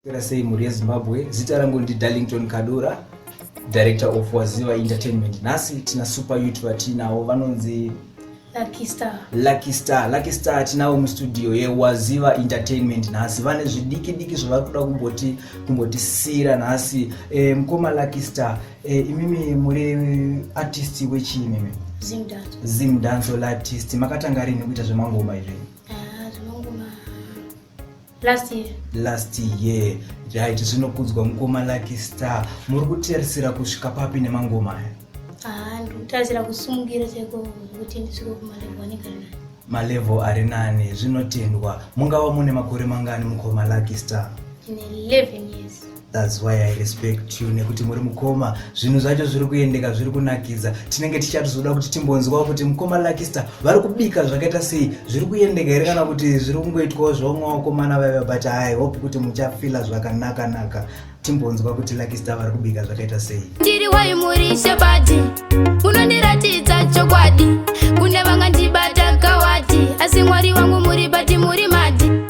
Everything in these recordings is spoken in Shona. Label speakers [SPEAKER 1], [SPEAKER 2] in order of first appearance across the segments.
[SPEAKER 1] Pera sei mhuri yezimbabwe zita rangu ndi darlington kadura director of waziva entertainment nhasi tina super youth vatiinawo vanonzi Lucky Star. lucky star lucky star tinavo mustudio yewaziva entertainment nhasi vane zvidiki diki zvavari kuda kumboti kumbotisiyira nhasi e, mukoma lucky star e, imimi muri artist wechii imimi Zim dance. zim dancehall artist makatanga rini kuita zvemangoma izvi Ah, zvinongoma last year last year right zvinokudzwa mukoma lucky star muri kutarisira kusvika papi nemangoma aya ah, ndikutarisira kusimukira chaiko kuti ndisvike kumalevo anenge nani malevo ari nani zvinotendwa mungava mune makore mangani mukoma lucky star tine 11 years That's why I respect you nekuti muri mukoma zvinhu zvacho zviri kuendeka zviri kunakidza tinenge tichatizoda kuti timbonzwawo kuti mukoma Luckystar vari kubika zvakaita sei zviri kuendeka here kana kuti zviri kungoitwawo zvevamwakomana vaiva but hi hope kuti muchafila zvakanaka naka timbonzwa kuti Luckystar vari kubika zvakaita sei ndiri wayi muri shebadi unondiratidza chokwadi kune vangandibata kawati asi mwari wangu muri bati muri madi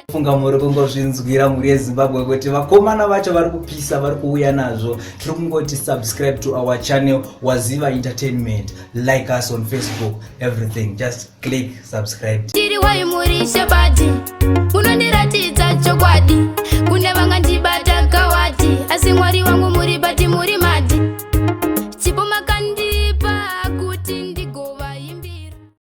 [SPEAKER 1] funga muri kungozvinzwira mhuri yezimbabwe kuti vakomana vacho vari kupisa vari kuuya nazvo tiri kungoti subscribe to our channel waziva entertainment like us on facebook everything just click subscribe tiri wai muri shebadi unondiratidza chokwadi kune vangandibata kawati asi mwari wangu muri bati muri madi